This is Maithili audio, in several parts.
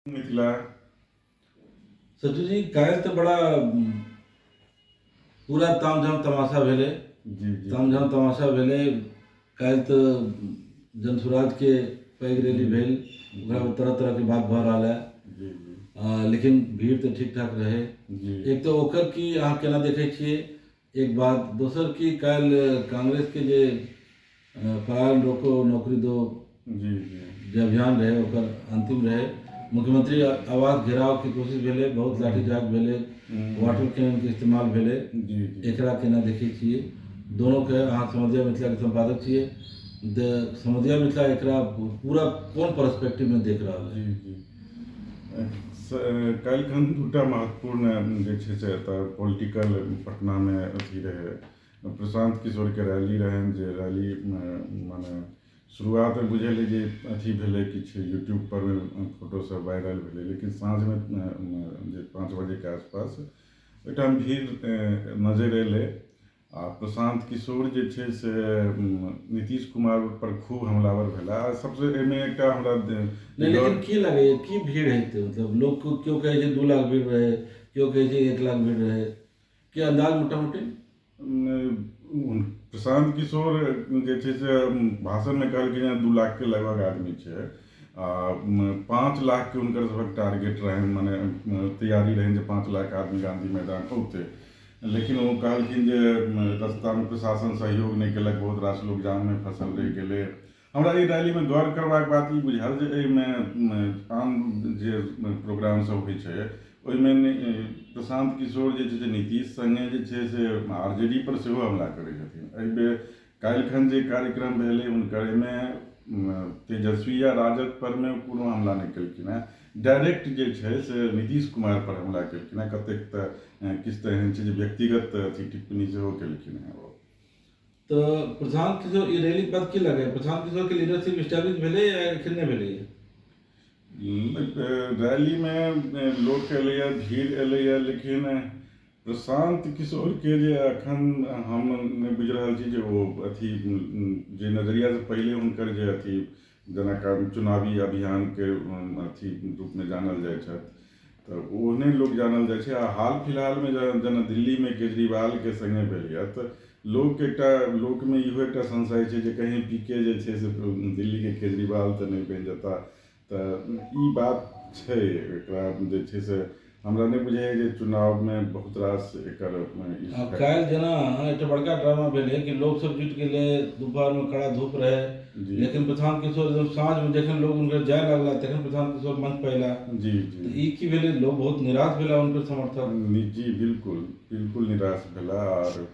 मिथिला सचू जी काल्हि तऽ बड़ा पूरा तामझाम तमाशा भेलै जी जी तामझाम तमाशा भेलै काल्हि तऽ जनसुराजके पैघ रैली भेल ओकरा पर तरह तरहके बात भऽ रहल है जी जी आ, लेकिन भीड़ तऽ ठीक ठाक रहै जी एक तऽ ओकर की अहाँ केना देखै छियै एक बात दोसर की काल्हि कांग्रेस के जे पलायन रोको नौकरी दो जी जी जे अभियान रहे ओकर अंतिम रहे मुख्यमंत्री आवास घेराव के कोशिश भेलै बहुत लाठीचार्ज भेलै वाटर कैनन के इस्तेमाल भेलै जी जी एकरा केना देखै छियै दोनों के अहाँ समझिया मिथिला के संपादक छियै तऽ समझिया मिथिला एकरा पूरा कोन पर्सपेक्टिव में देख रहल है जी जी काल्हिखन दू टा महत्वपूर्ण जे छै से एतऽ पॉलिटिकल पटनामे अथी रहै प्रशान्त किशोरके रैली रहनि जे रैली मने शुरुआतमे बुझल रहै जे अथी भेलै किछु यूट्यूबपर फोटोसब वायरल भेलै लेकिन साँझमे जे पाँच बजेके आसपास ओहिठाम भीड़ नजरि अएलै आ प्रशांत किशोर जे छै से नीतीश कुमार पर खूब हमलावर भेला आ सबसे एहिमे एकटा हमरा नहि लेकिन की लगैए की भीड़ हेतै मतलब लोक केओ कहै छै दू लाख भीड़ रहै केओ कहै छै एक लाख भीड़ रहै के अन्दाज मोटा मोटी प्रशांत किशोर जे छै से भाषणमे कहलकै जे दू लाखके लगभग आदमी छै आ पाँच लाखके हुनकर सभक टारगेट रहनि मने तैयारी रहनि जे पाँच लाख आदमी गाँधी मैदान औतै लेकिन ओ कहलखिन जे एतऽसँ ताबे प्रशासन सहयोग नहि केलक बहुत रास लोक जाममे फँसल रहि गेलै हमरा एहि रैलीमे गौर करबाक बात ई बुझाएल जे एहिमे आन जे प्रोग्राम सब होइ छै ओहिमे प्रशान्त किशोर जे छै से नीतीश सङ्गे जे छै से आर जे डी पर सेहो हमला करै छथिन एहिबेर काल्हिखन जे कार्यक्रम भेलै हुनकर एहिमे तेजस्वी या राजद परमे कोनो हमला नहि केलखिन हेँ डायरेक्ट जे छै से नीतीश कुमार पर हमला केलखिन हेँ कतेक तऽ किछु तऽ एहन छै जे व्यक्तिगत अथी टिप्पणी सेहो केलखिन हेँ ओ तऽ प्रशांत किशोर ई रैलीक बाद की लगैए प्रशांत किशोरके लीडरशिप स्टैब्लिश भेलै या एखन नहि भेलैए रैलीमे लोक एलैए भीड़ एलैए लेकिन प्रशान्त किशोरके जे एखन हम नहि बुझि रहल छी जे ओ अथी जे नजरियासँ पहिले हुनकर जे अथी जेना चुनावी अभियानके अथी रूपमे जानल जाइ छथि तऽ ओहने लोक जानल जाइ छै आ हाल फिलहालमे जेना दिल्लीमे केजरीवालके सङ्गे भेल यऽ तऽ लोक एकटा लोकमे इहो एकटा संशय छै जे कहीं पी के जे छै से दिल्लीके केजरीवाल तऽ नहि बनि जेता तऽ ई बात छै एकरा जे छै से हमरा नहि बुझाइए जे चुनावमे बहुत रास एकर आब काल्हि जेना एकटा बड़का ड्रामा भेलै कि लोकसभ जुटि गेलै दुपहरमे कड़ा धूप रहै लेकिन प्रशान्त किशोर एकदम साँझमे जखन लोक हुनकर जाए लगला तखन प्रशान्त किशोर मञ्चपर अएला जी जी तऽ ई कि भेलै लोक बहुत निराश भेला हुनकर समर्थक जी बिलकुल बिलकुल निराश भेला आओर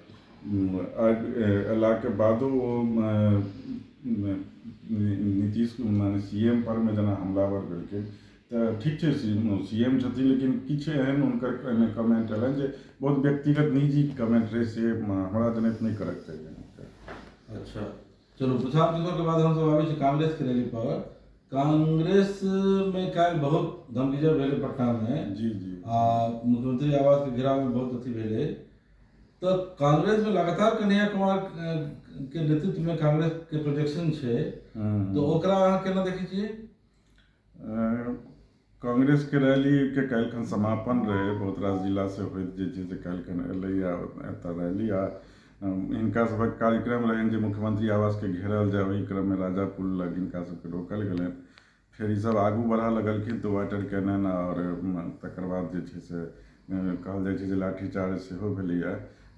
अयलाके बादो ओ नीतीश मने सी एम पर मे जेना हमलावर भेलखिन तऽ ठीक छै सी एम छथिन लेकिन किछु एहन हुनकर एहिमे कमेन्ट एलनि जे बहुत व्यक्तिगत निजी कमेन्ट रहै से हमरा जनैत नहि करैके चाही अच्छा चलू विशाल किशोर के बाद हम सब आबै छी कांग्रेस के रैली पर कांग्रेस मे काल्हि बहुत धमकीजर भेलै पटना मे जी जी आ मुख्यमंत्री आवास के घेराव मे बहुत अथी भेलै तऽ कांग्रेसमे लगातार कन्हैया कुमारके नेतृत्वमे कांग्रेसके प्रोजेक्शन छै तऽ ओकरा अहाँ केना देखै छियै कांग्रेसके रैलीके काल्हि खन समापन रहै बहुत रास जिला से होइत जे छै से काल्हि खन एलैया एतऽ रैली आ हिनका सभक कार्यक्रम रहनि जे मुख्यमंत्री आवासके घेरल जाय ओहि क्रममे राजापुर लग हिनका सभके रोकल गेलनि फेर ई सब आगू बढ़ऽ लगलखिन तऽ वाटर कैनन आओर तकर बाद जे छै से कहल जाइ छै जे लाठी चार्ज सेहो भेलैया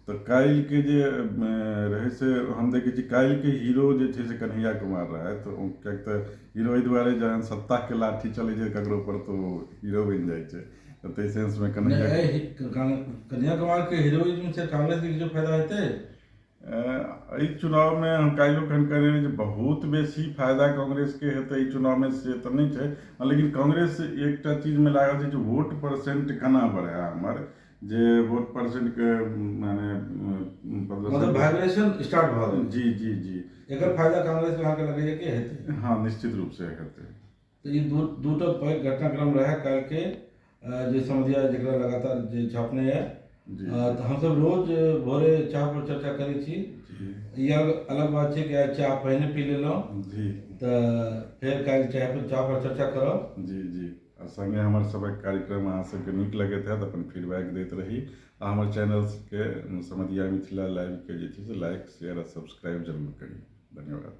तऽ काल्हिके जे रहै से हम देखै छी काल्हिके हीरो जे छै से कन्हैया कुमार रहथि ओ किएक तऽ हीरो एहि दुआरे जहन सत्ताके लाठी चलै छै ककरो पर तऽ ओ हीरो बनि जाइ छै तऽ ताहि सेंसमे कन्हैया कन्हैया कुमारके हीरोइज्म से कांग्रेसके किछो फायदा हेतै एहि चुनावमे हम काल्हिओ खन कहने रही जे बहुत बेसी फायदा कांग्रेसके हेतै एहि चुनावमे से तऽ नहि छै हँ लेकिन कांग्रेस एकटा चीजमे लागल छै जे वोट परसेन्ट केना बढ़ए हमर जे वोट परसेन्टके मने मतलब वाइब्रेशन स्टार्ट भऽ गेल जी जी जी एकर फायदा कांग्रेसके अहाँके लगैए कि हेतै हँ निश्चित रूपसँ हेतै तऽ ई दू टा पैघ घटनाक्रम रहै काल्हिके जे समझिया जकरा लगातार जे झँपने यऽ तऽ हमसब रोज भोरे चाह पर चर्चा करै छी ई अलग बात छै कि आइ चाह पहिने पी लेलहुँ जी तऽ फेर काल्हि चाय पर चाह पर चर्चा करब जी जी आ सङ्गे हमर सभक कार्यक्रम अहाँ सबके नीक लगैत होयत अपन फीडबैक दैत रही आ हमर चैनलके समधिया मिथिला लाइवके जे छै से लाइक शेयर आ सब्सक्राइब जरूर करी धन्यवाद